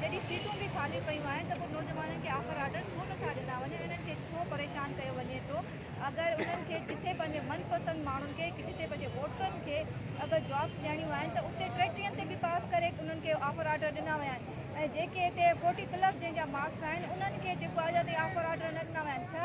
جڏهن سيٽون به خالي پيون آهن ته پوء نوجوانن کي آخر آرڊر ڇو نه ٿا ڏنا وڃن انهن کي ڇو پريشان ڪيو وڃي ٿو اگر انهن کي جتي پنهنجي من پسند ماڻهن کي جتي پنهنجي ووٽرن کي اگر جابس ڏيڻيون آهن ته اتي ٽيٽرين تي به پاس ڪري انهن کي آفر آرڊر ڏنا ويا آهن ۽ جيڪي هتي فورٽي پلس جنهن جا مارڪس آهن انهن کي جيڪو اڄ تائين آفر آرڊر نه ڏنا ويا آهن ڇا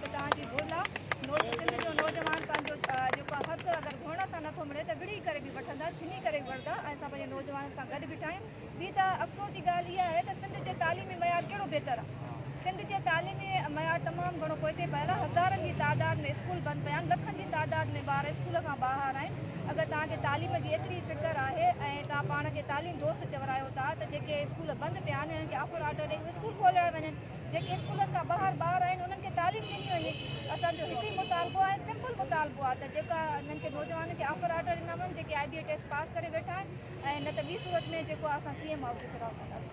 توهان جي گهر لاء نوٽ سنڌ جو نوجوان پنهنجو جيڪو حق اگر گهرڻ سان نٿو ملي ته وڙهي ڪري به وٺندا ڇني ڪري به وڙهندا ۽ اسان پنهنجي نوجوانن سان گڏ بيٺا آهيون ٻي ته افسوس جي ڳالهه اها آهي ته سنڌ جي تعليمي معيار ڪهڙو بهتر آهي سنڌ جي تعليمي معيار تمام گهڻو پوئتي پيل آهي هزارن جي تعداد ۾ اسڪول بند پيا آهن لکن جي تعداد ۾ ٻار اسڪول کان ٻاهر آهن اگر توهان کي تعليم جي ايتري فڪر آهي ۽ توهان پاڻ کي تعليم دوست چورايو ٿا ته جيڪي اسڪول بند پيا آهن انهن کي آفر آرڊر ڏئي اسڪول کوليا وڃن. جيڪي اسڪولن کان ٻاهر ٻار آهن انهن کي تعليم ڏني وڃي اسان جو هڪ ئي مطالبو آهي سمپل مطالبو آهي ته جيڪا انهن کي نوجوانن کي آفر آرڊر ڏنا وڃن جيڪي آئي بي اي ٽيسٽ پاس ڪري ويٺا آهن ۽ نه ته ٻي صورت ۾ جيڪو آهي اسان سي ايم آفيس ۾ رهنداسين